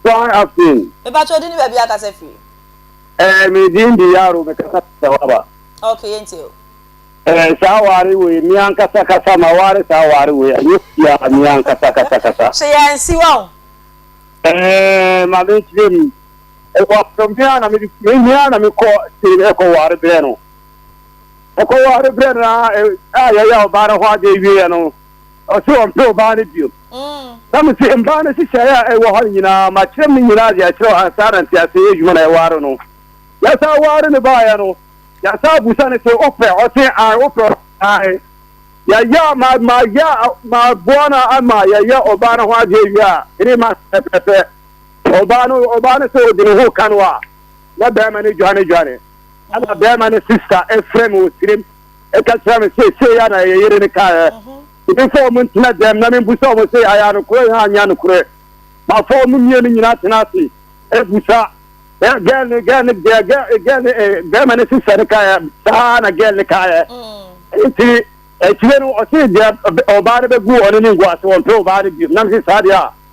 Kwan afei. Me pa kyɛ odi ni baabi akasa firi. Ɛɛ me din di yaro me kasa firi sawaba. Ok yɛ nti o. Ɛɛ saa ware wei me ankasa kasa ma ware saa ware wei ɛnyɛ fia me ankasa kasa kasa. Hyɛ yɛ ansi wa o. Ɛɛ ma me nkyerɛ mu. Ɛwɔ afɔ me ara na me me me ara na me kɔ se ɛkɔ ware brɛ no. Ɛkɔ ware brɛ no a yɛ yɛ ɔbaa no ho adeɛ wie yɛ no. ɔse ɔmpɛ obaa no biom na mese mbaa no nhyehyɛe a ɛwɔ hɔ no nyinaa makyerɛ me nyinaa de akyerɛ wo ansa na ntease yɛ adwuma na yɛware no yɛsan ware no baayɛ no yɛsan busa no se wopɛ ɔse ae wopɛ ae yɛyɛ ma ma yɛ ma boa no ama yɛyɛ obaa no ho adeɛ wie a three months pɛpɛpɛ obaa no obaa no sɛ ɔdi ne ho ka no a na bɛrima no dwane dwane ɛna bɛrima no sista ɛfrɛ me wɔ sirem ɛka kyerɛ me sɛ sei a na ɛyɛ yere no kaeɛ ebi sɛ wɔn ntena dɛm na membu sɛ wɔn sɛ ayɛ anokorɛ ha anyɛ anokorɛ mafa wɔn mmienu nyinaa tena ase abusa gɛl ne gɛl ne gɛl ne bɛrima ne sisɛ no kaeɛ saa na gɛl ne kaeɛ nti akyire no ɔse deɛ ɔbaa no bɛgu ɔne ne ngu ase wɔmpɛ ɔbaa no bio nam se saa deɛ a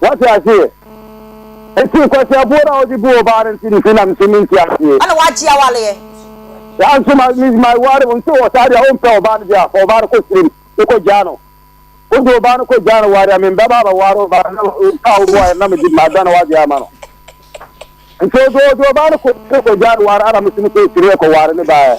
Wate aseɛ? Enti nkwaseaboɔ no a wɔde bu ɔbaa no nti nti na nso mente aseɛ. Ɛna wagye awareɛ. Saa nso ma me ma ware wɔn nso wɔ saa deɛ ɔmpɛ ɔbaa no deɛ a fa ɔbaa no kɔ sirim ne kɔ gyaa no. Wode ɔbaa no kɔ gyaa no ware a membɛba abɛware ɔbaa no na ɔmpa wo boaeɛ na mede mada no wagye ama no. Nti ɔde ɔde ɔbaa no kɔ kɔ gyaa no ware ana mesɛ mesɛ ɔsiri ɛkɔ ware ne baeɛ.